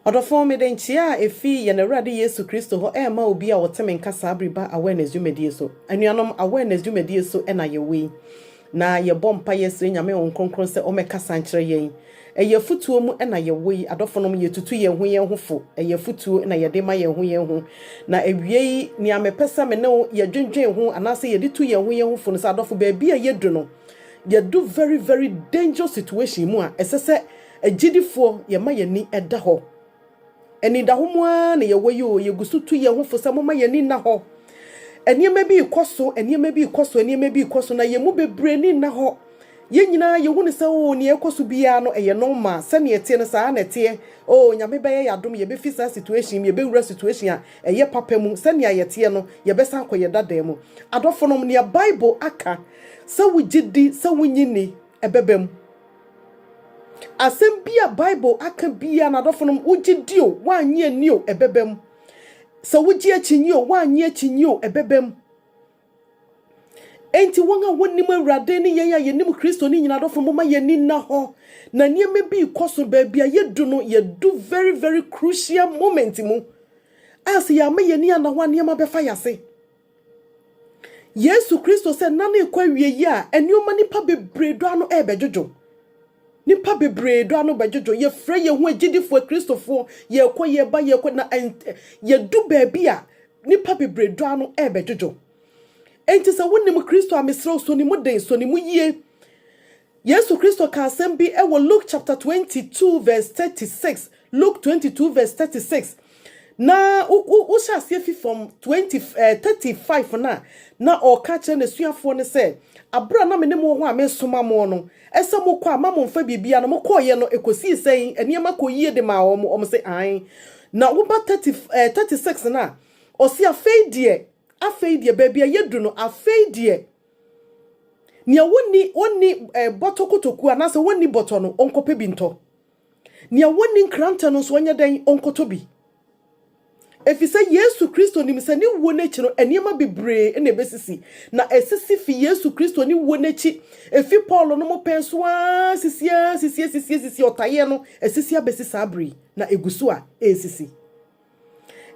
Ɔdɔfo, mede nkyia a efi yɛn Awurade Yesu Kristo hɔ rema obi a ɔte me nka saa bere ba awareness dwumadie so. Anuanom, awareness dwumadie so na yɛwɔ yi. Na yɛbɔ mpaeɛ srɛ Nyame Honhom Kronkron sɛ ɔmmɛkasa nkyerɛ yɛn. Ɛyɛ afutuo mu na yɛwɔ yi, adɔfonom, yɛtutu yɛn ho yɛn ho fo, ɛyɛ afutuo na yɛde ma yɛn ho yɛn ho. Na awiei, nea mepɛ sɛ me ne wo yɛdwendwen ho anaasɛ yɛde tu yɛn ho yɛn ho fo no sɛ, adɔfo, baabi a yɛadu no, yɛadu very, very dangerous situation mu a ɛsɛ sɛ agyidifoɔ yɛma yɛn ani da hɔ. Anidaho mu ara na yɛwɔ yi o, yɛgu so tu yɛn ho fo sɛ momma yɛn ani nna hɔ. Nneɛma bi rekɔ so, nneɛma bi rekɔ so, nneɛma bi rekɔ so, na yɛn mu bebree ani nna hɔ. Yɛn nyinaa yɛhu no sɛ, oo, nea ɛrekɔ so biara no, ɛyɛ normal. Sɛnea ɛteɛ no, saa ara na ɛteɛ. Oo, Nyame bɛyɛ yɛn adom, yɛbɛfi saa situation yi mu, yɛbɛwura situation a ɛyɛ papa mu. Sɛnea yɛteɛ no, yɛbɛsan akɔ yɛn dadaa mu. Adɔfonom, nea Bible aka sɛ wogye di sɛ wonnye nni, ɛbɛba mu. Asɛm bi a Bible aka biara, n'adɔfo no, wogye di o, woannye anni o, ɛbɛbam. Sɛ wogye akyinnye o, woannye akyinnye o, ɛbɛbam. Enti wɔn a wɔnim Awurade ne yɛn a yɛnim Kristo ne nyinaa adɔfo no, momma yɛn ani nna hɔ. Na nneɛma bi rekɔ so, baabi a yɛdu no, yɛdu very very crucial moment mu a sɛ yɛama yɛn ani anna hɔ a, nneɛma bɛfa yɛn ase. Yesu Kristo sɛ nna no rekɔ awiei a nneɛma nnipa bebree dɔ ano rebɛdwodwo. Nnipa bebree dɔ ano bɛdwodwo. Yɛfrɛ yɛn ho agyidifoɔ Akristofoɔ, yɛrekɔ yɛreba yɛrekɔ na ɛnt- ɛ- yɛdu baabi a nnipa bebree dɔ ano rebɛdwodwo. Enti sɛ wonim Kristo a mesrɛ wo, sɔ ne mu den, sɔ ne mu yie. Yesu Kristo ka asɛm bi wɔ Luke chapter twenty two verse thirty six, Luke twenty two verse thirty six, na wo wo wohyɛ aseɛ fi fam twenty ɛɛ eh, thirty five na na ɔreka kyerɛ n'asuafoɔ no sɛ abere a na me ne mo wɔ hɔ a mesoma mo no ɛsɛ mo kɔ a ma mo nfa biribiara no mo kɔɔyɛ no ekosii sɛn nneɛma kɔ yie de maa wɔn wɔn sɛ an na woba thirty ɛɛ eh, thirty six na ɔsi afei deɛ afei deɛ baabi a yɛdu no afei deɛ Nea wonni onni bɔtɔ kotoku anaasɛ wonni bɔtɔ no, ɔnkɔpɛ bi ntɔ. Nea wonni nkrantɛ no nso, ɔnyɛ dɛn? Ɔnkɔtɔ bi. Efisɛ Yesu Kristo nim sɛ ne wuo no akyi no, nneɛma bebree na ebesisi. Na esisi fi Yesu Kristo ne wuo no akyi. Efi Paulo no mo pɛn so ara sisi ara sisi asisi asisi ɔtayeɛ no, asisi abesi saa bere yi, na egu so a ɛresisi.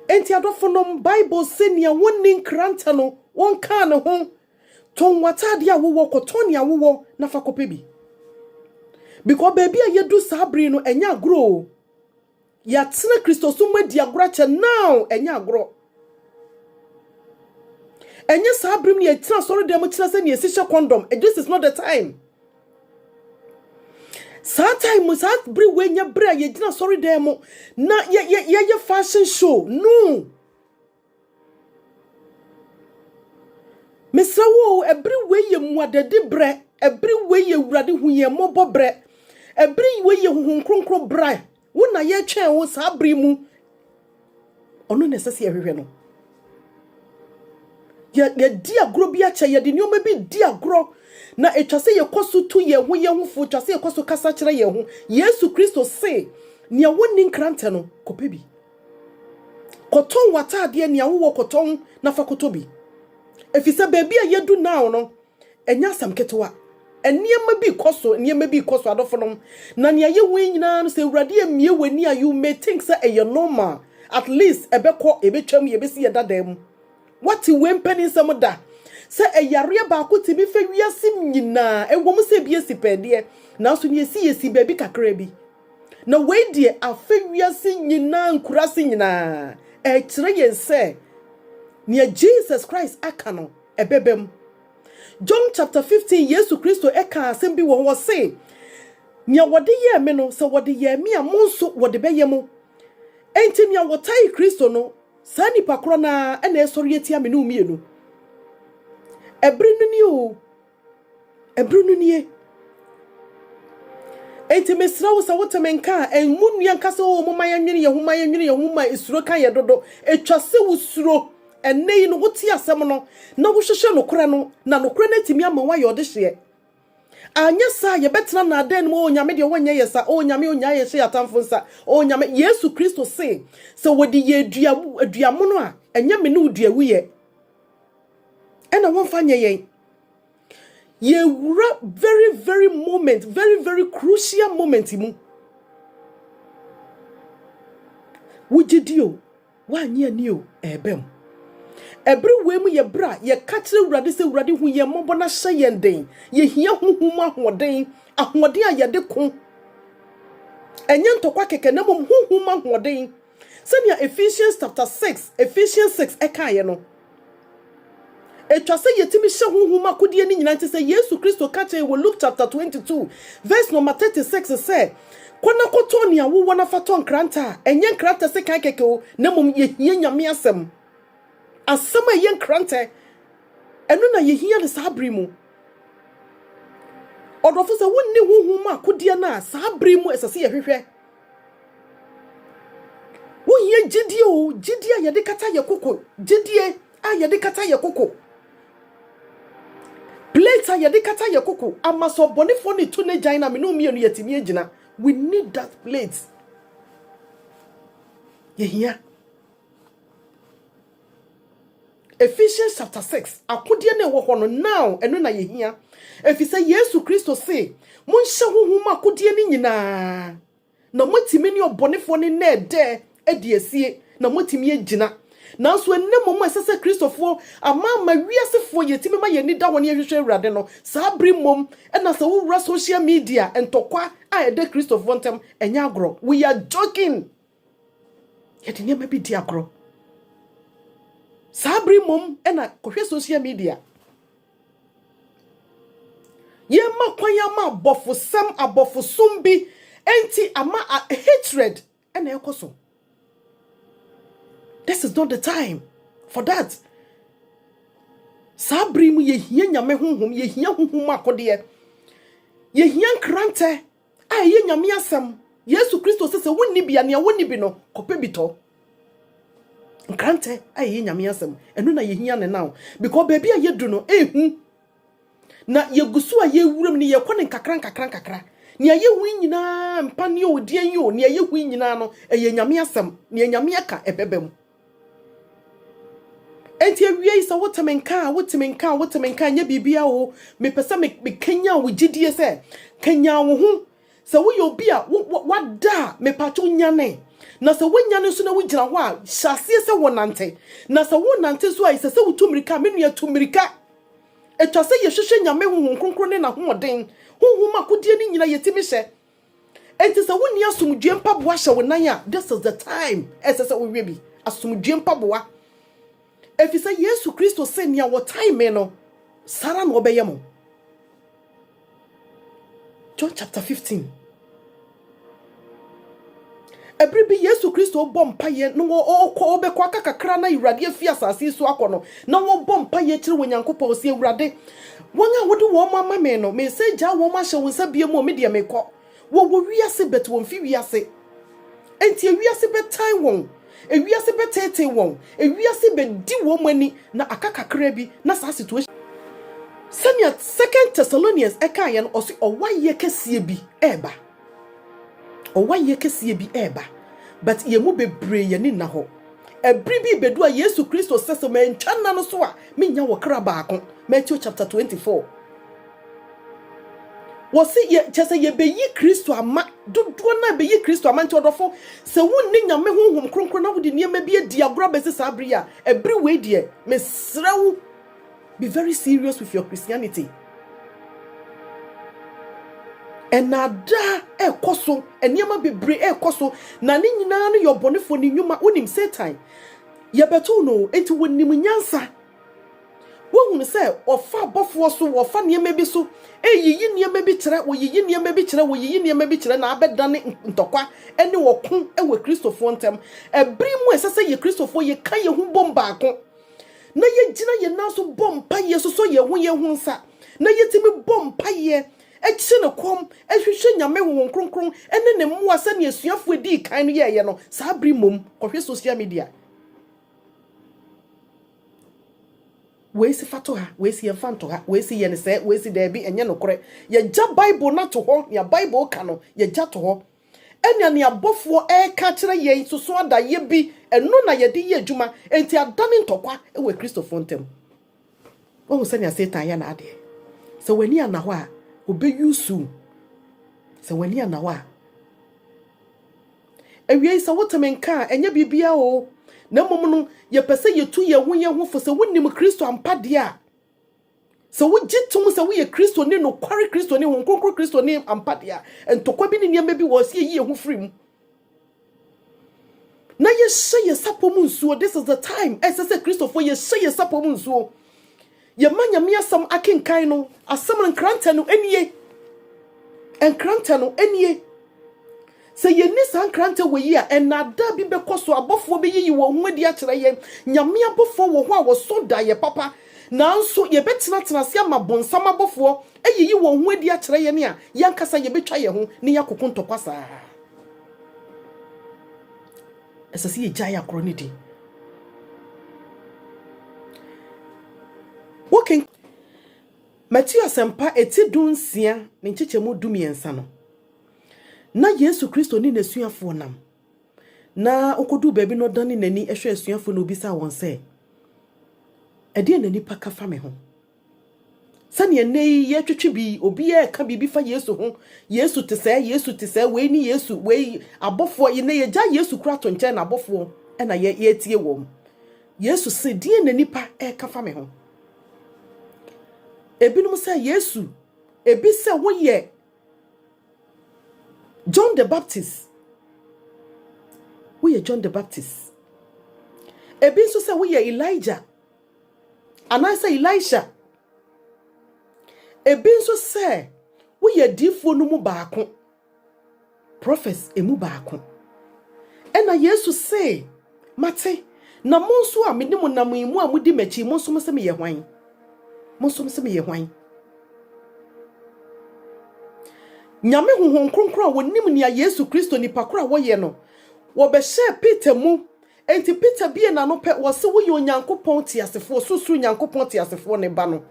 Enti adɔfonom, Bible se nea wonni nkrantɛ no, wonkaa ne ho. Tɔn w'atade a wowɔ, kɔtɔn nea wowɔ na fa kɔpɛ bi. Because baabi a yɛadu saa bere yi no, ɛnyɛ agorɔ o. Yɛatena Kristosom mu adi agorɔ akyɛ, now ɛnyɛ agorɔ. Ɛnyɛ saa bere mu na yɛtena asɔredan mu kyerɛ sɛ nea ɛsi hyɛ kɔndɔm, this is not the time. saa time mu saa bere wei nyɛ bere a yɛgyina sɔre dan mu na yɛyɛ fashion show no mesrɛ wo ɛbere wei yɛ mmuadadi berɛ ɛbere wei yɛ awurade hu yɛn mmɔbɔ berɛ ɛbere wei yɛ honhom kronkron berɛ Wo na yɛtwɛn wo saa bere mu. Ɔno na ɛsɛ sɛ yɛhwehwɛ no. Yɛdi agorɔ bi akyɛ, yɛde nneɛma bi di agorɔ, na ɛtwa sɛ yɛkɔ so tu yɛn ho yɛn ho fo, ɛtwa sɛ yɛkɔ so kasa kyerɛ yɛn ho. Yesu Kristo se, nea wɔnni nkrantɛ no, kɔpɛ bi. Kɔtɔn w'ataadeɛ, nea wowɔ kɔtɔn na fa kɔtɔ bi. Ɛfiri sɛ baabi a yɛadu now no, Ɛnyɛ asɛm ketewa. Nneɛma bi rekɔ so, nneɛma bi rekɔ so, adɔfonom. Na nea ɛyɛ hu yi nyinaa no, sɛ Awurade ammue w'ani a, you may think sɛ ɛyɛ normal. At least ɛbɛkɔ, ɛbɛtwam, yɛbɛsi yɛn dada mu. Woate wei mpaninsɛm da? Sɛ ɛyareɛ baako tumi fɛ wiase nyinaa, ɛwɔ mu sɛ ebi asi pɛɛ deɛ, nanso nea ɛsi yɛ si baabi kakra bi. Na wei deɛ afɛ wiase nyinaa, nkuraase nyinaa. Ɛkyerɛ yɛn sɛ nea Jesus Christ aka no, ɛbɛba mu. John chapter fifteen Yesu Kristo kaa asɛm bi wɔ hɔ, ɔse, Nea wɔde yɛɛ me no, sɛ wɔde yɛɛ me a, mo nso wɔde bɛyɛ mo. Enti nea wɔtae Kristo no, saa nipa korɔ no ara na ɛresɔre atia me ne wo mmienu. Ɛbere no ni oo. Bere no nie. Enti mesrɛ wo sɛ wote me nka a, ɛmmu nnua nka sɛ, Oo, momma yɛnnwene yɛn ho, ma yɛnnwene yɛn ho, ma suro ka yɛn dodo. Ɛtwa sɛ wusuro. Ɛnnɛ yi no, wote asɛm no, na wohwehwɛ nokorɛ no, na nokorɛ no atumi ama woayɛ ɔdehyeɛ. Anyɛ saa a, yɛbɛtena nnaadaa no mu, Oo, Nyame deɛ wɔnyɛ yɛn saa, Oo, Nyame ɔnnyae yɛn nhyɛ yɛn atamfo nsa, Oo, Nyame. Yesu Kristo se, sɛ wɔde yɛn dua, dua mono a, ɛnyɛ me ne wo dua wuyɛ, ɛna wɔmfa nyɛ yɛn. Yɛwura very very moment, very very crucial moment mu. Wogye di o, woanye ani o, ɛrebɛm. Ɛbere wei mu yɛ bere a yɛka kyerɛ Awurade sɛ Awurade hu yɛn mmɔbɔ na hyɛ yɛn den. Yɛhia honhom mu ahoɔden, ahoɔden a yɛde ko. Ɛnyɛ ntɔkwa kɛkɛ na mmom honhom mu ahoɔden. Sɛnea Ephesians chapter six, Ephesians six, kaeɛ no, etwa sɛ yɛtumi hyɛ honhom akodeɛ no nyinaa nti sɛ Yesu Kristo ka kyerɛ yɛn wɔ Luke chapter twenty two, verse number thirty six sɛ, Kɔ na kɔtɔn nea wowɔ na fa tɔ nkrantɛ a, ɛnyɛ nkrantɛ sekan kɛkɛ o, na mmom yɛhia Nyame asɛm. Asɛm a ɛyɛ nkrantɛ, ɛno na yɛhia no saa bere mu. Ɔdɔfo sɛ wonni honhom akodeɛ no a, saa bere mu ɛsɛ sɛ yɛhwehwɛ. Wohia gyidie o, gyidie a yɛde kata yɛ koko, gyidie a yɛde kata yɛ koko. Plate a yɛde kata yɛ koko, ama sɛ ɔbɔnefoɔ no retu n'agyan no a, me ne wo mmienu yɛatumi agyina. We need that plate. Yɛhia. Ephesians chapter 6, akodeɛ no ɛwɔ hɔ no, now ɛno na yɛhia. Ɛfiri sɛ Yesu Kristo se, monhyɛ honhom mu akodeɛ no nyinaa, na moatumi ne ɔbɔnefoɔ no nna ɛdɛ adi asie, na moatumi agyina. Nanso ɛnnɛ mmom a ɛsɛ sɛ Kristofoɔ, amaama wiasefoɔ, yɛtumi ma yɛn ani da hɔ na yɛhwehwɛ Awurade no, saa bere mmom na sɛ wowura social media, ntɔkwa a ɛda Kristofoɔ ntam, ɛnyɛ agorɔ. We are joking! yɛde nneɛma bi di agorɔ saa bere mmom na kɔhwɛ social media yɛma kwan ama abɔfosɛm abɔfosom bi enti ama hatred na ɛkɔ so this is not the time for that saa bere mu yɛhia nyame honhom yɛhia honhom akodeɛ yɛhia nkrantɛ A ɛyɛ Nyame asɛm. Yesu Kristo se sɛ wonni bi a, nea wonni bi no, kɔpɛ bi tɔ. Nkrantɛ a ɛyɛ Nyame asɛm. Ɛno na yɛhia no now. Because baabi a yɛdu no, ɛhu. Na yɛgu so a yɛwuram no, yɛkɔ no nkakra nkakra nkakra. Nea yɛhu yi nyinaa, mpa ne o, deɛn yi o, nea yɛhu yi nyinaa no, ɛyɛ Nyame asɛm. Nea Nyame aka, ɛbɛba mu. Enti awiei sɛ wote me nka a, wote me nka a, wote me nka a, nyɛ biribiara o. Mepɛ sɛ mekanyan wo gyidie sɛ kanyan wo ho. Sɛ woyɛ obi a wada a, mepatwo nyane. Na sɛ woanyane nso na wogyina hɔ a, hyɛ aseɛ sɛ wonante. Na sɛ wonante nso a, ɛsɛ sɛ wotu mmirika. Me nua, tu mmirika. Ɛtwa sɛ yɛhwehwɛ Nyame Honhom Kronkron ne N'ahoɔden. Honhom akodeɛ no nyina yɛtumi hyɛ. Enti sɛ wonni asomdwoe mpaboa hyɛ wo nan a, this is the time ɛsɛ sɛ wohwɛ bi. Asomdwoe mpaboa. Efisɛ Yesu Kristo se nea wɔtan me no, saa ara na wɔbɛyɛ mo. John chapter 15. Bere bi Yesu Kristo rebɔ mpaeɛ na ɔrekɔ, ɔrebɛkɔ aka kakra na Awurade afi asase yi so akɔ no, na ɔrebɔ mpaeɛ kyerɛ Onyankopɔn, ɔse, Awurade, wɔn a wode wɔn ama me no, meresan agyaa wɔn ahyɛ wo nsa bio mu, me deɛ merekɔ. Wɔwɔ wiase but wɔmfi wiase. Enti ewiase bɛtan wɔn, ewiase bɛteetee wɔn, ewiase bɛdi wɔn ani, na aka kakra bi na saa situation. Sɛnea Second Thessalonians ɛkaeɛ no, ɔse ɔwaeɛ kɛseɛ bi reba. Ɔwayɛ kɛseɛ bi reba but yɛn mu bebree yɛn ani nna hɔ. Ɛbere bi rebedu a Yesu Kristo sɛ sɛ mantwa nna no so a mennya ɔkra baako. Matthew chapter 24. Wɔse yɛ kyɛ sɛ yɛbɛyi Kristo ama dodoɔ no a bɛyi Kristo ama nti ɔdɔfo sɛ wonni Nyame honhom kronkron na wode nneɛma bi adi agorɔ abɛsi saa bere yi a ɛbere wei deɛ mesrɛ wo Be very serious with your Christianity. Ɛnaadaa ɛkɔ so, nneɛma bebree ɛkɔ so, na ne nyinaa no yɛ ɔbɔnefoɔ ne nnwuma. Wonim Satan, yɛbɛtow no, enti wonim nyansa. Wohunu sɛ ɔfa abɔfoɔ so, wɔfa nneɛma bi so, ɛyiyi nneɛma bi kyerɛ, wɔyiyi nneɛma bi kyerɛ, wɔyiyi nneɛma bi kyerɛ, na abɛdane ntɔkwa ne ɔko wɔ Kristofoɔ ntam. Ɛbere mu a ɛsɛ sɛ yɛ Kristofoɔ yɛka yɛn ho bom baako na yɛgyina yɛn nan so bɔ mpaeɛ sosɔ yɛn ho yɛn ho nsa na yɛtumi bɔ mpaeɛ kyerɛ no kɔm hwehwɛ Nyame Honhom Kronkron ne ne mmoa sɛdeɛ asuafoɔ ɛdii kan no yɛɛyɛ no saa bere mmom kɔhwɛ social media wei si fa to ha wei si yɛmfa nto ha wei si yɛn sɛ wei si daabi ɛnyɛ nokorɛ yɛgya Bible no ato hɔ nea Bible ka no yɛgya to hɔ Ɛnna nea abɔfoɔ reka akyerɛ yɛn nso so adaeɛ bi, ɛno na yɛde yɛ adwuma, enti adane ntɔkwa wɔ Akristofoɔ ntam. Woahu sɛnea Satan yɛ n'adeɛ? Sɛ w'ani anna hɔ a, ɔbɛuse wo. Sɛ w'ani anna hɔ a. Awiei sɛ wote me nka a, ɛnyɛ biribiara o, na mmom no, yɛpɛ sɛ yɛtu yɛn ho yɛn ho fo sɛ wonim Kristo ampa deɛ a, Sɛ wogye tom sɛ woyɛ Kristoni, nokware Kristoni, Honhom Kronkron Kristoni ampa de a, ntɔkwa bi ne nneɛma bi wɔ hɔ sɛ yeyi yɛn ho firi mu na yɛhyɛ yɛn sapɔ mu nsuo. This is the time a ɛsɛ sɛ Kristofo yɛhyɛ yɛn sapɔ mu nsuo. Yɛma Nyame asɛm akenkan no, asɛm no nkrantɛ no nie. Nkrantɛ no nie. Sɛ yenni saa nkrantɛ wɔ yi a, nnaadaa bi bɛkɔ so. Abɔfoɔ bɛyiyi wɔn ho adi akyerɛ yɛn. Nyame abɔfoɔ wɔ hɔ a wɔso daeɛ papa. Nanso yɛbɛtenatena ase ama bonsam abɔfoɔ ayiyi wɔn ho adi akyerɛ yɛn a, yɛn ankasa yɛbɛtwa yɛn ho na yɛakoko ntɔkwa saa ara. Ɛsɛ sɛ yɛgyae akorɔ no di. Wokenkan Mateo Asɛmpa eti dunsia ne nkyekyɛmu dumiɛnsa no, Ná Yesu Kristo ne n'asuafoɔ nam, na ɔkɔduu baabi na ɔdane n'ani hwɛ asuafoɔ na ɔbisaa wɔn sɛ, Ɛdeɛn na nnipa ka fa me ho? Sɛdeɛ nnɛ yi yɛtwetwe bi, obiara reka biribi fa Yesu ho, Yesu te sɛɛ, Yesu te sɛɛ, wei ne Yesu, wei abɔfoɔ, yɛnɛ yɛgya Yesu kura to nkyɛn na abɔfoɔ na yɛtie wɔn. Yesu se, deɛ na nnipa reka fa me ho? Ebinom sɛ Yesu, ebi sɛ woyɛ John the Baptist. Woyɛ John the Baptist. Ebi nso sɛ woyɛ Elijah anaasɛ Elisha. Ebi nso sɛ woyɛ diifoɔ no mu baako. Prophets emu baako. Ɛna Yesu see Mate, na mo nso a mene mo nam yi, mo a modi m'akyi yi, mo nso mo se meyɛ hwan? Mo nso mo se meyɛ hwan? Nyame Honhom Kronkron a wɔnim nea Yesu Kristo nipa koro a wɔyɛ no, wɔbɛhyɛɛ Peter mu. Enti Peter bie n'ano pɛ, wɔse woyɛ Onyankopɔn teasefoɔ, Osorosoro Nyankopɔn teasefoɔ no ba no,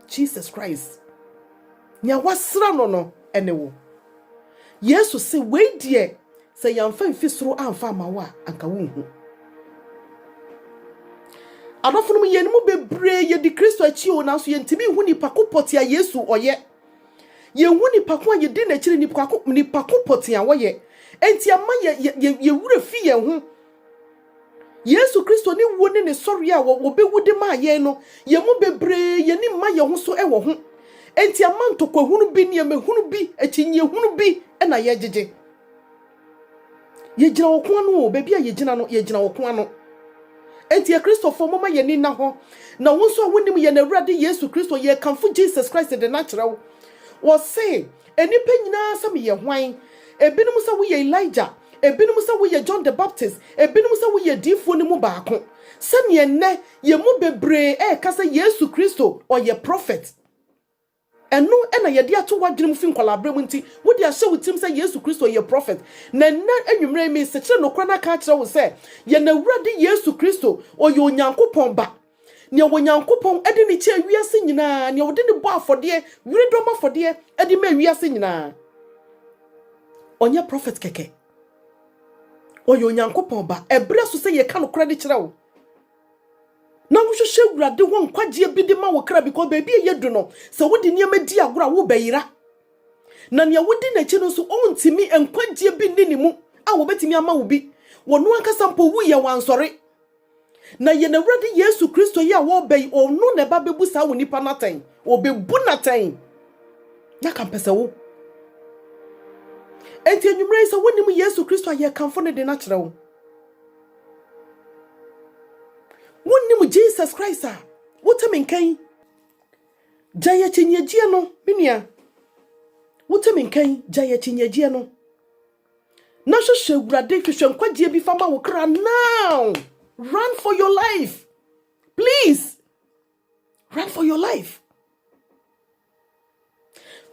Jesus Christ, nea wɔasra no no ne wo. Yesu se, wei deɛ, Sɛ yɛamfa mfi soro amfa amma wo a, anka wunhu. Adɔfonom, yɛn mu bebree yedi Kristo akyi o, nanso yentumi nhu nipa ko pɔtee a Yesu ɔyɛ. Yenhu nipa ko a yedi n'akyiri, nipa ko, nipa ko pɔtee a ɔyɛ. Enti ɛma yɛ, yɛ, yɛ, yɛ werɛ fi yɛn ho. Yesu Kristo ne wuo ne ne sɔreɛ a wɔbɛwu de maa yɛn no, yɛn mu bebree yɛn ani mma yɛn ho so wɔ ho. Enti ama ntɔkwahunu bi, nneɛmahunu bi, akyinnyehunu bi na yɛgyegye. Yɛgyina ɔko ano o, baabi a yɛgyina no, yɛgyina ɔko ano. Enti Akristofoɔ, momma yɛn ani nna hɔ. Na wo nso a wonim yɛn Awurade Yesu Kristo, yɛkamfo Jesus Christ de no akyerɛ wo. Wɔse, Nnipa nyinaa sɛ meyɛ hwan? Ebinom sɛ woyɛ Elijah, ebinom sɛ woyɛ John the Baptist, ebinom sɛ woyɛ adiyifoɔ no mu baako. Sɛdeɛ nnɛ yɛn mu bebree reka sɛ Yesu Kristo ɔyɛ prɔfɛt. Ɛno na yɛde ato w'adwene mu fi nkwadaa-berɛ mu nti, wode ahyɛ wo tirim sɛ Yesu Kristo yɛ prɔfɛt. Na nnɛ anwummerɛ yi meresekyerɛ nokorɛ no aka akyerɛ wo sɛ, yɛn Awurade Yesu Kristo ɔyɛ Onyankopɔn Ba. Nea Onyankopɔn de no kyɛɛ wiase nyinaa, nea ɔde no bɔ afɔdeɛ, wiredɔm afɔdeɛ de maa wiase nyinaa. Ɔnyɛ prɔfɛt kɛkɛ. Ɔyɛ Onyankopɔn ba. Ɛberɛ so sɛ yɛka nokorɛ de kyerɛ wo. Na wohwehwɛ Awurade hɔ nkwagyeɛ bi de ma wo kra because baabi a yɛdu no, sɛ wode nneɛma di agorɔ a, wobɛyera. Na nea wodi n'akyi no nso, ɔntumi, nkwagyeɛ bi nni ne mu a wɔbɛtumi ama wo bi. Wɔno ankasa mpo wuiɛ, wansɔre. Na yɛn Awurade Yesu Kristo yi a ɔreba yi, ɔno na ɛba bɛbu saa onipa no atɛn. Ɔbɛbu no atɛn. Na ka mpɛ sɛ wo. Enti anwummerɛ yi sɛ wonim Yesu Kristo a yɛkamfo no de no akyerɛ wo. Wonim Jesus Christ a, wote me nka yi. Gya yɛ kyinyegyeɛ no, me nua. Wote me nka yi, gya yɛ kyinyegyeɛ no. Na hwehwɛ Awurade, hwehwɛ nkwagyeɛ bi fa ma wo kra now. Run for your life. Please, run for your life.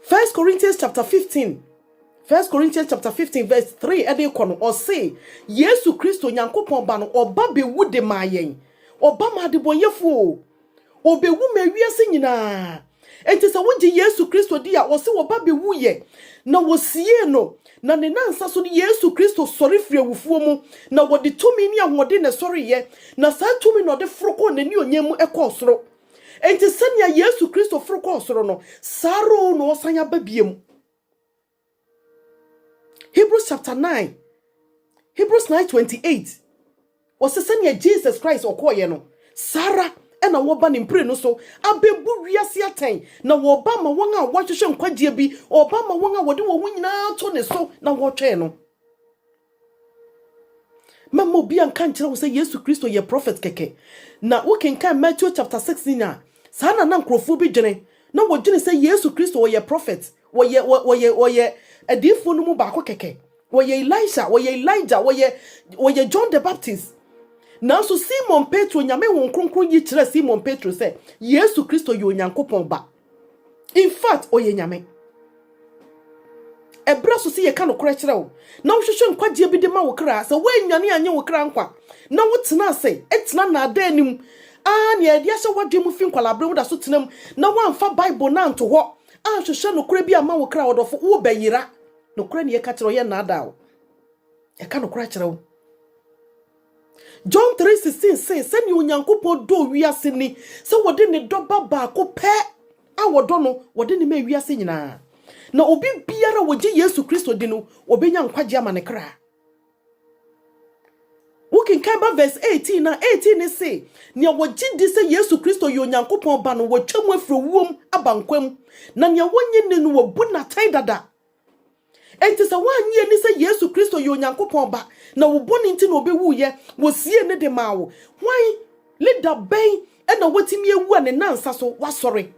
First Corinthians chapter 15. First Corinthians chapter 15 verse 3 ɛde kɔ no ɔse Yesu Kristo Nyankopɔn ba no ɔba bɛwu de maa yɛn ɔba maa adebɔnyɛfoɔ Obewu ma wiase nyinaa. Enti sɛ wogye Yesu Kristo di a, ɔse ɔba bewuiɛ, na wɔsiee no, na ne nansa so no Yesu Kristo sɔre firi awufoɔ mu, na wɔde tumi ne ahoɔden na ɛsɔreeɛ, na saa tumi no ɔde foro kɔɔ n'anionyam mu kɔɔ soro. Enti sɛnea Yesu Kristo foro kɔɔ soro no, saa ara o na ɔresan aba biom. Hebrews chapter 9, Hebrews 9:28. Wɔsɛ sɛnea Jesus Christ ɔkɔɔyɛ no, saa ara na wɔba ne mprenu so abebu wiase atɛn, na wɔba ma wɔn a wɔhwehwɛ nkwagyeɛ bi, wɔba ma wɔn a wɔde wɔn ho nyinaa to ne so na wɔtwɛn no. Mɛma obiara nka nkyerɛ wo sɛ Yesu Kristo yɛ prɔfɛt kɛkɛ. Na wokenkan Matthew chapter 6 no nyinaa, saa na na nkurɔfoɔ bi dwene. Na wɔdwene sɛ Yesu Kristo ɔyɛ prɔfɛt, ɔyɛ ɔyɛ ɔyɛ adiyifoɔ no mu baako kɛkɛ. Ɔyɛ Elisha, ɔyɛ Elijah, ɔyɛ ɔyɛ John the Baptist. Nanso Simon Petro, Nyame Honhom Kronkron yi kyerɛɛ Simon Petro sɛ Yesu Kristo yɛ Onyankopɔn Ba. infact ɔyɛ nyame ɛberɛ so sɛ yɛka nokorɛ kyerɛ wo na wohwehwɛ nkwagyeɛ bi de ma wo kra sɛ woannwane anyɛ wo kra nkwa na wotena ase tena naadaa anim aa nea ɛde ahyɛ woadwe mu fi nkwalaaberɛ woda so tenam na woamfa bible no anto hɔ anhwehwɛ nokorɛ bi ama wo kra ɔdɔfo wobɛyera nokorɛ ne yɛka kyerɛ ɔyɛ nnaadaa wo yɛka nokorɛ kyerɛ wo John 3:16 se, Sɛnea Onyankopɔn dɔɔ wiase ni, sɛ wɔde ne dɔ Ba baako pɛ a wɔdɔ no, wɔde no maa wiase nyinaa, na obi biara a ogye Yesu Kristo di no, obenya nkwagye ama ne kra. Wokenkan ba verse 18 a, 18 ne se, Nea wogye di sɛ Yesu Kristo yɛ Onyankopɔn Ba no, wɔatwam afiri owuom aba nkwa mu, na nea wonnye nni no, wɔabu no atɛn dada. Enti sɛ woannye anni sɛ Yesu Kristo yɛ Onyankopɔn Ba, na wo bɔne nti na ɔbɛwuiɛ, wɔsiee ne de maa wo, hwan, leader bɛn na watumi awu a ne nnansa so wasɔre,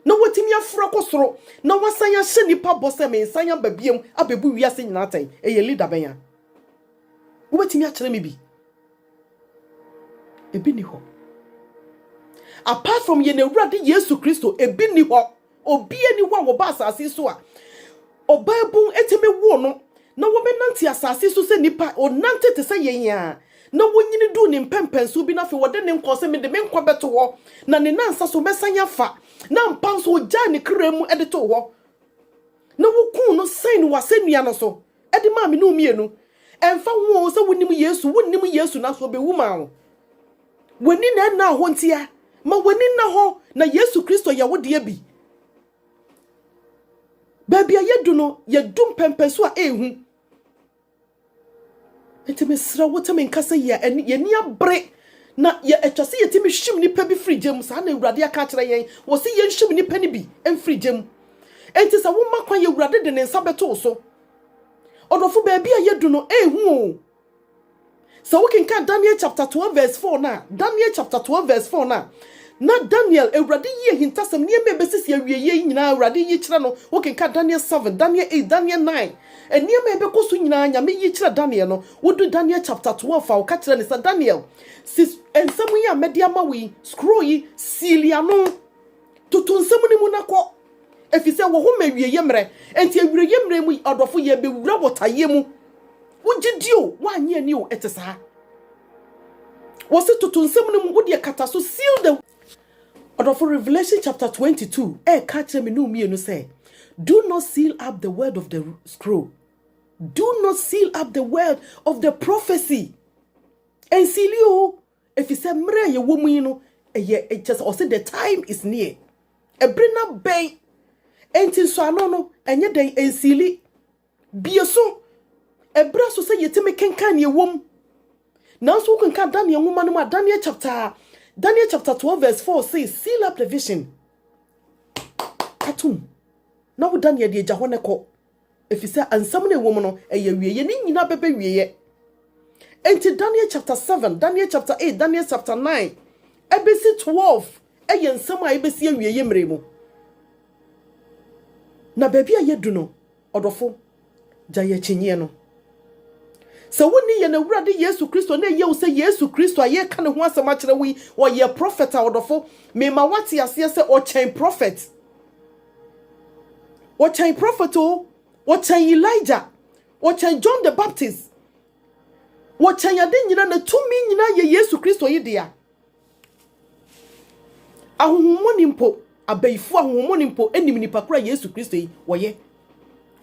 na watumi aforo akɔ soro, na wasan ahyɛ nnipa bɔ sɛ mensan aba biam abɛbu wiase nyinaa atɛn? Ɛyɛ leader bɛn a? Wobɛtumi akyerɛ me bi? Ebi ni hɔ. Apart from yɛn Awurade Yesu Kristo, ebi ni hɔ. Obiara nni hɔ a wɔba asase so a ɔbaabun tumi woo no na wɔbɛnante asase so sɛ nnipa. Ɔnante te sɛ yɛn ara na wɔnyini duu ne mpɛmpɛnsoɔ bi no afei wɔde ne nkɔɔ sɛ mede me nkwa bɛto hɔ na ne nansa so mɛsan afa na ampa nso ɔgyaa ne kra mu de too hɔ na wɔkuu no sɛn no wɔ asɛnnua no so de maa me ne wo mmienu. Ɛmfa ho sɛ wonim Yesu, wonnim Yesu nanso ɔbɛwu maa wo. W'ani na ɛnna hɔ ntia. Ma w'ani nna hɔ na Yesu Kristo yɛ wo deɛ bi. Baabi a yɛdu no, yɛdu mpɛmpɛ so a ɛrehu. Nti mesrɛ wo tɛme nka sɛ yɛni abere na ɛtwa sɛ yɛtumi hyim nnipa bi firi gya mu. Saa na Awurade aka akyerɛ yɛn. Wɔ sɛ yɛnhyim nnipa no bi mfiri gya mu. Nti sɛ woma kwan, Awurade de ne nsa bɛto wo so. Ɔdɔfo baabi a yɛdu no ɛrehu o. Sɛ wokenkan Daniel chapter twelve verse four no a, Daniel chapter twelve verse four no a, na Daniel, Awurade yi ahintasɛm, nneɛma a ɛbɛsisi awieeɛ yi nyinaa, Awurade yi kyerɛ no. Wokenkan Daniel seven, Daniel eight, Daniel nine, nneɛma a ɛbɛkɔ so nyinaa, Nyame yi kyerɛ Daniel no. Wodu Daniel chapter twelve a, ɔka kyerɛ no sɛ, Daniel, si nsɛm yi a mɛde ama wo yi, scroll yi, seal ano. Toto nsɛm no mu na kɔ, efisɛ wɔ hɔ ma awieyɛ mmerɛ. Enti awieyɛ mmerɛ mu yi, ɔdɔfo, yɛrebɛwura botaeɛ mu. Wogye di o, woannye ani o, ɛte saa. Wɔse toto nsɛm no mu, wo deɛ kata so, seal the. Ɔdɔfo, Revelation chapter 22 ɛreka kyerɛ me ne wo mmienu sɛ, do not seal up the word of the scroll. Do not seal up the word of the prophecy. Ɛnsiili o, Efisɛ mmere a yɛwɔ mu yi no yɛ kyɛ sɛ ɔse the time is near. Ebere no abɛn. Enti nsɔano no ɛnyɛ dɛn nsiili. Bie so, ebere so sɛ yɛtumi kenkan nea ɛwɔ mu. Nanso wokenkan Daniel nwoma no mu a Daniel chapter Daniel chapter 12 verse 4 say seal up the vision. Katum. Na wo Daniel deɛ gya hɔ ne kɔ. Efisɛ nsɛm no a ɛwɔ mu no, ɛyɛ awieɛ. Ne nyinaa bɛbɛ wieɛ. Enti Daniel chapter 7, Daniel chapter 8, Daniel chapter 9, ɛbɛsi 12 ɛyɛ nsɛm a ɛbɛsi awieɛ mmerɛ mu. Na baabi a yɛadu no, ɔdɔfo, gya yɛ akyinnyeɛ no. Sɛ wonni yɛn Awurade Yesu Kristo na ɛyɛ wo sɛ Yesu Kristo a yɛreka ne ho asɛm akyerɛ wo yi, ɔyɛ prɔfɛt a ɔdɔfo, mema woate aseɛ sɛ ɔkyɛn prɔfɛt. wɔkyɛn prophet o wɔkyɛn elijah wɔkyɛn john the baptist wɔkyɛn ade nyina na tumi nyina yɛ yesu kristo yi dea ahohommɔne mpo abayifo ahohommɔne mpo nim nipa koro a yesu kristo yi wɔyɛ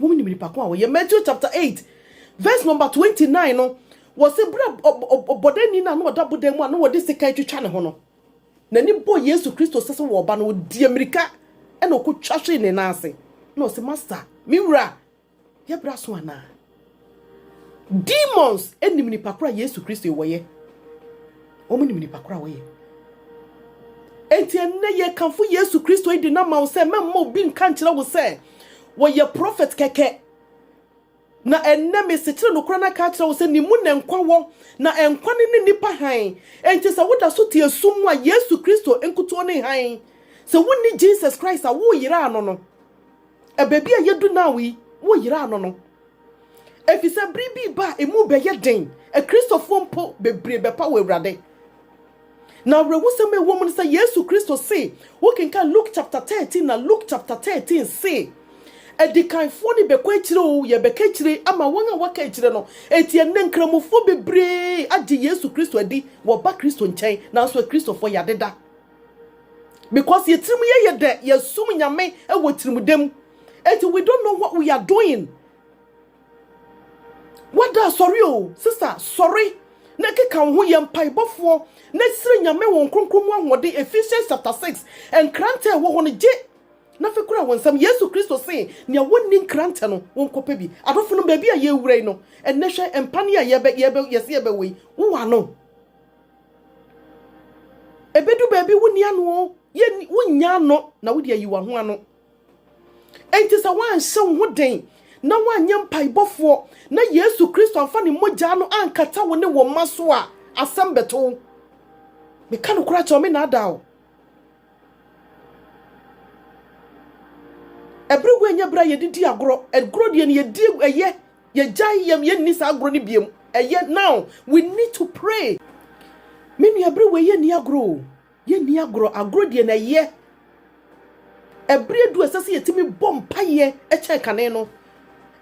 wɔn nim nipa ko a wɔyɛ matthew chapter eight verse number twenty nine no wɔsi bere ɔbɔdani na ano ɔda bodan mu a na wɔde sekan twitwa ne ho no. N'ani bɔɔ Yesu Kristo sɛ sɛ wɔreba no, ɔdii mmirika na ɔkɔtwa hwee ne nan ase na ɔse, Masta, me wura, yɛbrɛ aso anaa? Demons nim nipa koro a Yesu Kristo wɔyɛ. Wɔn nim nipa koro a wɔyɛ. Enti ɛnnɛ yɛkamfo Yesu Kristo yi de no ama wo sɛ mɛmma obi nka nkyerɛ wo sɛ wɔyɛ prophet kɛkɛ. Na ɛnnɛ mesekyere nokorɛ no aka akyerɛ wo sɛ ne mu na nkwa wɔ, na nkwa no ne nnipa hann. Enti sɛ woda so te esum mu a, Yesu Kristo nkutuo ne hann. Sɛ wonni Jesus Christ a, woyera no no. Baabi a yɛadu now yi, woyera no no. Ɛfiri sɛ bere bi reba a emu bɛyɛ den, Akristofoɔ mpo bebree bɛpa wɔ Awurade. Na awerɛhosɛm a ɛwɔ mu ne sɛ Yesu Kristo se, wokenkan Luke chapter 13 na Luke chapter 13 se, Adikanfoɔ no bɛkɔ akyire o, yɛbɛka akyire ama wɔn a wɔaka akyire no. Enti ɛnnɛ Nkramofoɔ bebree agye Yesu Kristo adi, wɔba Kristo nkyɛn, nanso Akristofoɔ yɛadeda. Because yɛ tirim yɛ yɛ dɛ, yɛsom Nyame wɔ tirimdɛ mu. Enti we don't know what we are doing. Wada asɔre o, sista sɔre na keka wo ho yɛ mpaebɔfoɔ na srɛ Nyame wɔn kronkron mu ahoɔden, Ephesians chapter 6, nkrantɛ a ɛwɔ hɔ no gye na afei kura wo nsam, Yesu Kristo see nea wɔnni nkrantɛ no wɔnkɔ pɛ bi. Adɔfonom baabi a yɛrewura yi no, ɛnnɛ hwɛ mpa ne a yɛbɛ, yɛbɛ, yɛse yɛbɛwɔ yi, wowɔ ano? Ɛbɛdu baabi wonni ano o, yɛnni, wonnya ano na wode ayi wɔn ho ano. Enti sɛ woanhyɛ wo ho den na woanyɛ mpaebɔfoɔ na Yesu Kristo amfa ne mogyaa no ankata wo ne wo mma so a, asɛm bɛto wo. Meka nokorɛ akyerɛ wo, mennaadaa wo. Ɛberɛ wei nyɛ berɛ a yɛde di agorɔ. Agorɔ deɛ no yɛdi ɛyɛ, yɛgyae yɛm, yɛnni saa agorɔ no biam. Ɛyɛ now. We need to pray. Me nua, berɛ wei yɛnni agorɔ o. Yɛnni agorɔ, agorɔ deɛ na ɛyɛ. Ɛberɛ adu a ɛsɛ sɛ yɛtumi bɔ mpaeɛ kyɛn kane no.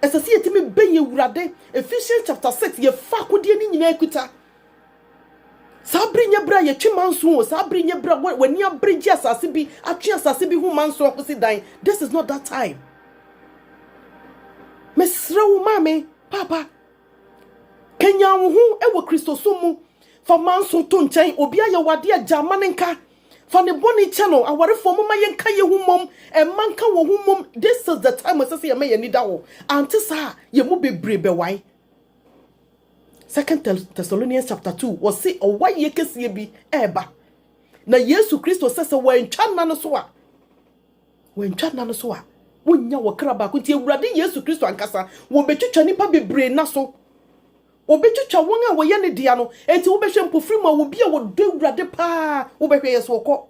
Ɛsɛ sɛ yɛtumi bɛn Awurade. Ephesians chapter 6, yɛfa akodeɛ no nyinaa kuta. Saa bere nyɛ bere a yɛtwe manso o. Saa bere nyɛ bere a wɔ- w'ani abere gye asase bi, atwe asase bi ho manso akɔsi dan. This is not that time. Mesrɛ wo maame, papa, kanyan wo ho wɔ Kristosom mu. Fa manso to nkyɛn. Obi ayɛ wo ade a, gyaa ma no nka. Fa ne bɔne kyɛ no. Awarefoɔ, momma yɛnka yɛn ho mmom. Mma nka wɔn ho mmom. This is the time a ɛsɛ sɛ yɛma yɛn ani da hɔ. Ante saa a, yɛn mu bebree bɛwae. Second Thessalonians chapter two, wɔse ɔwaeɛ kɛseɛ bi reba. Na Yesu Kristo sɛ sɛ wɔantwa nna no so a, wɔantwa nna no so a, wonnya wɔ kra baako nti. Awurade Yesu Kristo ankasa, wɔbɛtwitwa nnipa bebree nna so. Obetwitwa wɔn a wɔyɛ ne dea no. Enti wobɛhwɛ mpofirim a obi a ɔdɔ Awurade paa, wobɛhwɛ yɛ so ɔkɔ.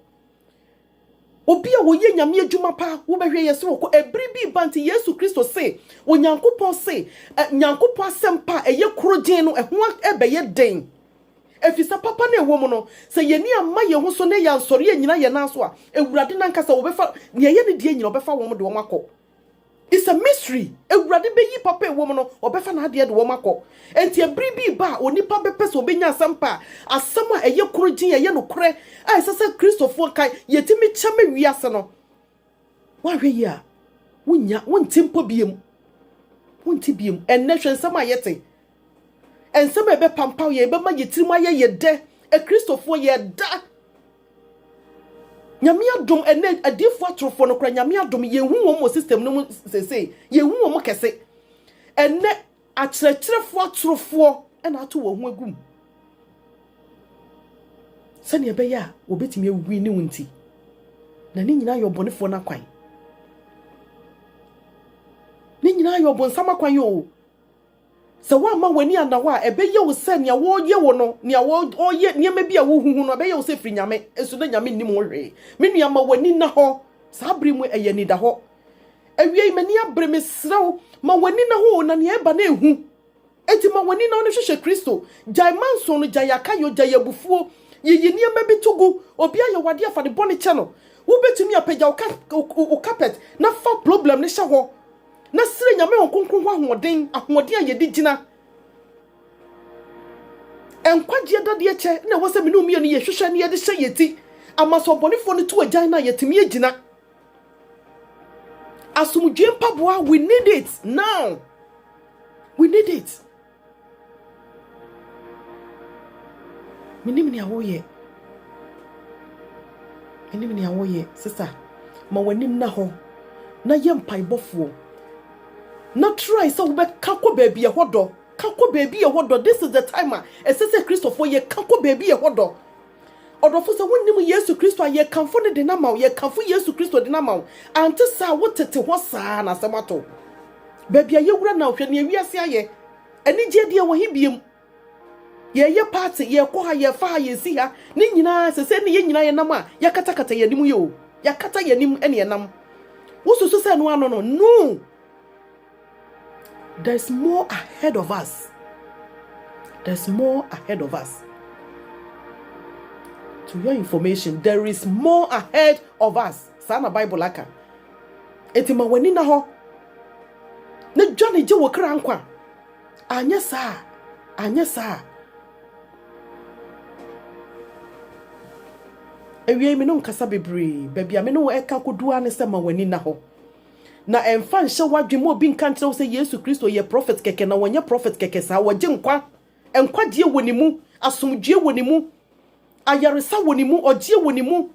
Obi a ɔyɛ Nyame adwuma paa, wobɛhwɛ yɛ so ɔkɔ. Ɛbere bi reba nti Yesu Kristo se, Onyankopɔn se, ɛ, Nyankopɔn asɛmpa a ɛyɛ korogyenn no, ɛho abɛyɛ den. Efisɛ papa no a ɛwɔ mu no, sɛ yɛn ani amma yɛn ho so na yɛansɔre annyina yɛn nan so a, Awurade no ankasa, wɔbɛfa, nea ɛyɛ ne dea nyina, ɔbɛfa wɔn de wɔn akɔ. It's a mystery. Awurade bɛyi papa a ɛwɔ mu no, ɔbɛfa n'adeɛ de wɔn akɔ. Enti ɛbere bi reba a onipa bɛpɛ sɛ ɔbɛnya asɛmpa a asɛm a ɛyɛ koro gyen, ɛyɛ nokorɛ a ɛsɛ sɛ Kristofoɔ ka, yɛtumi kyɛ ma wiase no. Woanhwɛ yie a, wonnya, wonte mpo biom. Wonte biom. Ɛnnɛ hwɛ nsɛm a yɛte. Nsɛm a ɛbɛpampaw yɛn, ɛbɛma yɛn tirim ayɛ yɛn dɛ. Akristofoɔ, yɛda Nyame adom, ɛnɛ adiifoɔ atorofoɔ no kora Nyame adom, yɛhu wɔn wɔ system no mu sesei, yɛhu wɔn kɛse. Ɛnɛ akyerɛkyerɛfoɔ atorofoɔ ɛna ato wɔn ho agum sɛnea ɛbɛyɛ a wɔbɛtumi awi ne wo nti, na ne nyinaa yɛ ɔbɔnefoɔ no akwan. Ne nyinaa yɛ ɔbonsam akwan o. Sɛ woamma w'ani anna hɔ a, ɛbɛyɛ wo sɛ nea wɔreyɛ wo no, nea wɔreyɛ, nneɛma bi a wuhuhu no, ɛbɛyɛ wo sɛ efiri Nyame, nso na Nyame nnim ho hwee. Me nua, ma w'ani nna hɔ. Saa bere mu ɛyɛ anidahɔ. Awiei, m'ani abere, mesrɛ wo, ma w'ani nna hɔ o, na nea ɛreba no yɛ hu. Enti ma w'ani nna hɔ na hwehwɛ Kristo. Gyae manso no, gyae akayɔ, gyae abufuo. Yiyi nneɛma bi to gu. Obi ayɛ wo adeɛ a, fa ne bɔne kyɛ no. Wubetumi apagya wo carpet na fa problem no hyɛ hɔ. Na srɛ Nyame wɔn kronkron ho ahoɔden, ahoɔden a yɛde gyina nkwagyeɛ dadeɛ kyɛ na ɛwɔ sɛ me ne wo mmienu yɛhwehwɛ na yɛde hyɛ yɛn ti ama sɛ ɔbɔnefoɔ no to agyan no a yɛtumi agyina. Asomdwoe mpaboa, we need it now. We need it. Menim nea woreyɛ. Menim nea woreyɛ. Sista, ma w'ani nna hɔ na yɛ mpaebɔfoɔ. Na try sɛ wobɛka kɔ baabi ɛhɔ dɔ. Ka kɔ baabi ɛhɔ dɔ. This is the time a ɛsɛ sɛ Kristofoɔ yɛ ka kɔ baabi ɛhɔ dɔ. Ɔdɔfo, sɛ wonnim Yesu Kristo a, yɛkamfo no de no ama wo. Yɛkamfo Yesu Kristo de no ama wo. Ante saa a, wotete hɔ saa ara na asɛm atɔ wo. Baabi a yɛwura na hwɛ nea wiase ayɛ. Anigyeɛ deɛ wɔ he biam? Yɛyɛ party, yɛkɔ ha, yɛfa ha, yɛsi ha. Ne nyinaa, sɛ sɛ ne yɛn nyinaa yɛnam a, yɛakatakata yɛn anim yɛ o. Yɛakata yɛn anim ne yɛnam. Wosusu sɛ ɛno ano no? No! There's more ahead of us. There's more ahead of us. To your information, there is more ahead of us. Saa na Bible aka. Enti ma w'ani na hɔ. Na dwa ne gye wo kra nkwa. Anyɛ saa. Anyɛ saa. Awiei me no nkasa bebree. Baabi a me ne wo ɛka kodu ara ne sɛ ma w'ani na hɔ. Na ɛmfa nhyɛ w'adwene mu, obi nka nkyerɛ wo sɛ Yesu Kristo yɛ prɔfɛt kɛkɛ, na ɔnyɛ prɔfɛt kɛkɛ saa. Ɔgye nkwa. Nkwagyeɛ wɔ ne mu. Asomdwoeɛ wɔ ne mu. Ayaresa wɔ ne mu. Ɔgyeɛ wɔ ne mu.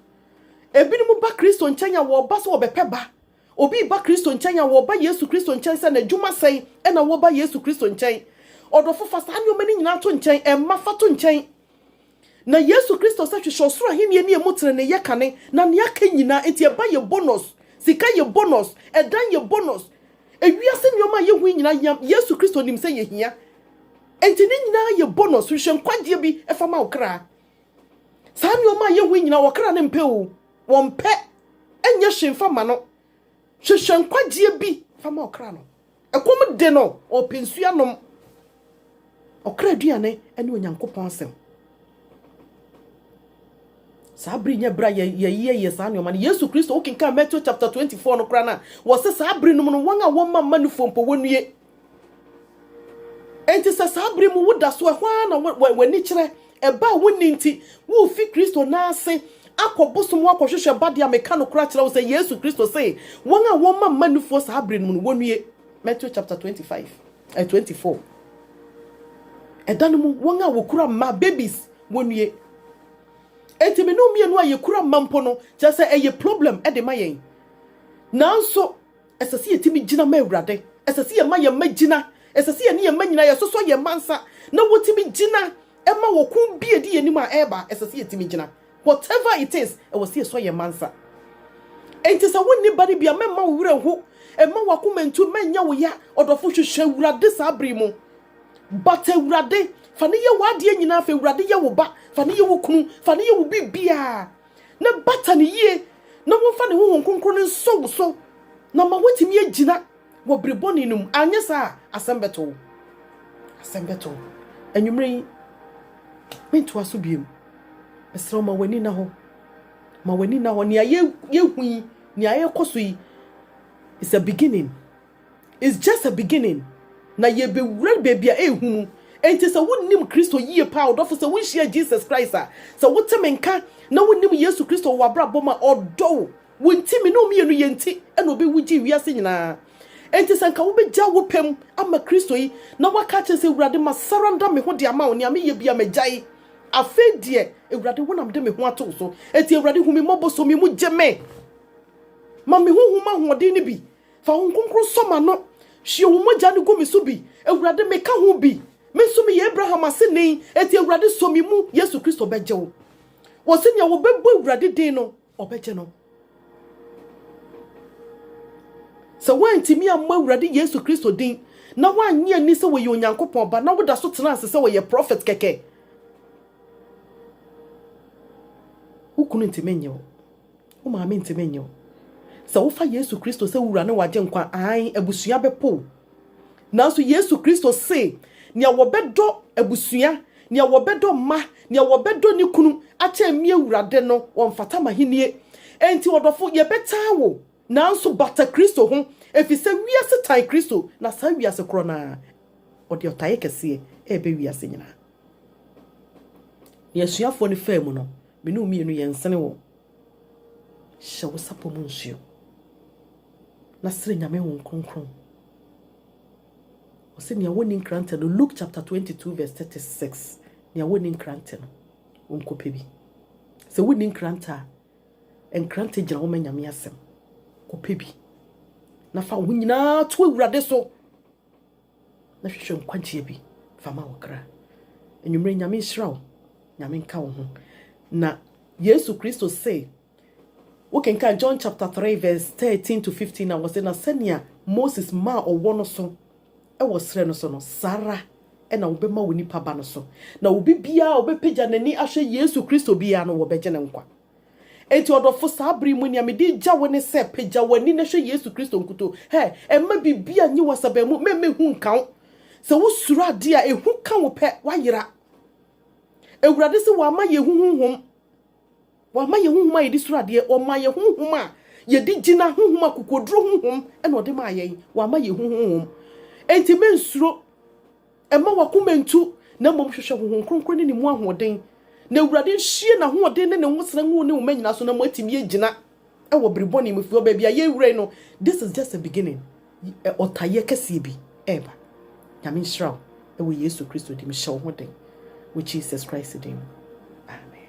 Ebinom ba Kristo nkyɛn a wɔba sɛ wɔbɛpɛ ba. Obi reba Kristo nkyɛn a wɔba Yesu Kristo nkyɛn sɛ n'adwuma sɛn ɛna wɔba Yesu Kristo nkyɛn. Ɔdɔfo fa saa nneɛma no nyinaa to nkyɛn. Ɛmma fa to nkyɛn. Na Yesu Kristo sɛ hwehwɛ ɔsoro ahenni ne emu trenee yɛ kane na nea aka nyinaa enti ɛba yɛ bonus, sika yɛ bonus, ɛdan yɛ bonus, ewiase nneɛma a yehu yi nyinaa hia, Yesu Kristo nim sɛ yehia enti ne nyinaa yɛ bonus, hwehwɛ nkwagyeɛ bi ɛfa ma wo kra. Saa nneɛma a yehu yi nyinaa wɔkra no mpɛ o, wɔmpɛ, ɛnyɛ hwee mfa ma no, hwehwɛ nkwagyeɛ bi fa ma ɔkra no. Ɛkɔm de no, ɔrepɛ nsuo anom. Ɔkra aduane ne Onyankopɔn asɛm. Saa bere nyɛ bere a yɛyɛyɛ saa nneɛma no. Yesu Kristo, wokenkan Matthew chapter 24 no koraa no a, wɔsɛ saa bere no mu no, wɔn a wɔmma mma nufoɔ mpo wɔnnue. Enti sɛ saa bere mu woda so ɛhɔ ara na w'ani kyerɛ Ɛbaa wo nne nti, worefi Kristo nan ase akɔ bosom mu akɔhwehwɛ ba de a meka nokorɛ akyerɛ wo sɛ Yesu Kristo se, wɔn a wɔmma mma nufoɔ saa berɛ no mu no, wɔnnue. Matthew chapter 25 eh, 24. Ɛda no mu, wɔn a wɔkura mma, babies, wɔnnue. Enti me ne wo mmienu a yɛkura mma mpo no, kyerɛ sɛ ɛyɛ problem de ma yɛn. Nanso, Ɛsɛ sɛ yɛtumi gyina ma Awurade. Ɛsɛ sɛ yɛma yɛn mma gyina. Ɛsɛ sɛ yɛne yɛn mma nyinaa yɛsosɔ yɛn mma nsa na wɔtumi gyina ma ɔko bi a ɛdi yɛn anim a ɛreba. Ɛsɛ sɛ yɛtumi gyina. Whatever it is, ɛwɔ sɛ yɛsɔ yɛn mma nsa. Enti sɛ wonni ba no bi a, mɛmma wo werɛ nho. Mma w'akoma ntu, mma ɛnyɛ wo ya. Ɔdɔfo, hwehwɛ Awurade saa bere yi mu. Bata Awurade. Fa no yɛ w'adeɛ nyinaa. Fa Awurade yɛ wo ba. Fa no yɛ wo kunu. Fa no yɛ wo biribiara. na bata no yie na wɔmfa ne honhom kronkron no nsɔ wo so na ma woatumi agyina wɔ bere bɔne no mu anyɛ saa a asɛm bɛto wo asɛm bɛto wo anwummerɛ yi mentoa so biom mesrɛ wo ma w'ani na hɔ ma w'ani na hɔ nea yɛhu yi nea yɛkɔ so yi is a beginning It's just a beginning na yɛbɛwura baabi a ɛhu mu. Enti sɛ wonim Kristo yie paa ɔdɔfo sɛ wonhyia Jesus Christ a, sɛ wote me nka na wonim Yesu Kristo wɔ w'abrabɔ mu a, ɔdɔ wo. Wo nti, me ne wo mmienu yɛ nti na obi wu gyee wiase nyinaa. Enti sɛ nka wobɛgya wo pɛ mu ama Kristo yi na woaka akyerɛ sɛ, Awurade, ma saranda me ho de ama wo, nea meyɛ bia magyae. Afei deɛ, Awurade, wo na mede me ho ato wo so. Enti Awurade, hu me mmɔbɔ, sɔ me mu, gye me. Ma me honhom ahoɔden no bi. Fa Honhom Kronkron sɔ m'ano. Hwie wo mogya no gu me so bi. Awurade, meka ho bi. Me nso meyɛ Abraham aseni, enti Awurade sɔ me mu. Yesu Kristo bɛgye wo. Wɔse nea wɔbɛbɔ Awurade din no, ɔbɛgye no. Sɛ woantumi ammɔ Awurade Yesu Kristo din, na woannye anni sɛ wɔyɛ Onyankopɔn ba, na woda so tena ase sɛ wɔyɛ prɔfɛt kɛkɛ, wo kunu ntumi nnye wo. Wo maame ntumi nnye wo. Sɛ wofa Yesu Kristo sɛ wo wura ne w'agyenkwa a, aane, abusua bɛpo wo. Nanso Yesu Kristo se, nea wɔbɛdɔ abusua, nea wɔbɛdɔ mma, nea wɔbɛdɔ ne kunu akyɛn me Awurade no, wɔmfata m'ahenni. Enti ɔdɔfo, yɛbɛtaa wo, nanso bata Kristo ho, efisɛ wiase tan Kristo, na saa wiase korɔ no ara, ɔde ɔtaeɛ kɛseɛ reba wiase nyinaa. Nea asuafoɔ no faa mu no, Me ne wo mmienu yɛn sene wo. Hyɛ wo sapɔ mu nsuo. Na sere Nyame Honhom Kronkron. Ɔsɛ nea wɔnni nkrantɛ no Luke chapter 22 verse 36 nea wɔnni nkrantɛ no ɔnkɔpɛ bi. Sɛ wonni nkrantɛ a nkrantɛ gyina hɔ ma Nyame asɛm. Kɔpɛ bi. Na fa wo ho nyinaa to Awurade so. na hwehwɛ nkwagyeɛ bi fa ma wo kra. Anwummerɛ Nyame nhyira wo, Nyame nka wo ho. Na Yesu Kristo se, wokenkan John chapter 3 verse 13 to 15 a wɔse, na sɛnea Moses maa ɔwɔ no so wɔ serɛ no so no, saa ara na wobɛma wɔ nipa ba no so. Na obi biara a ɔbɛpagya n'ani ahwɛ Yesu Kristo biara no, wɔbɛgye no nkwa. Enti ɔdɔfo, saa bere yi mu, nea mede regya wo ne sɛ, pagya w'ani na hwɛ Yesu Kristo nkutoo. Hɛ! Mma biribiara nnye w'asaban mu, mma ehu nnka wo. Sɛ wosuro ade a ehu ka wo pɛ, woayera. Awurade se wamma yɛn ehu honhom. Wamma yɛn honhom a yɛde suro adeɛ, ɔmaa yɛn honhom a yɛde gyina, honhom a kokoduro honhom na ɔde maa yɛn. Wamma yɛn ehu honhom. Enti mensuro. Mma w'akoma ntu, na mmom hwehwɛ Honhom Kronkron ne ne mu ahoɔden. Na Awurade nhyie n'ahoɔden ne ne nwosra ngu wo ne wo mma nyinaa so na moatumi agyina wɔ bere bɔne mu, ɛfiri baabi a yɛrewura yi no, this is just a beginning, ɔtayeɛ kɛseɛ bi reba. Nyame nhyira wo wɔ Yesu Kristo din mu. Hyɛ wo ho den wɔ Jesus Christ din mu. Amen.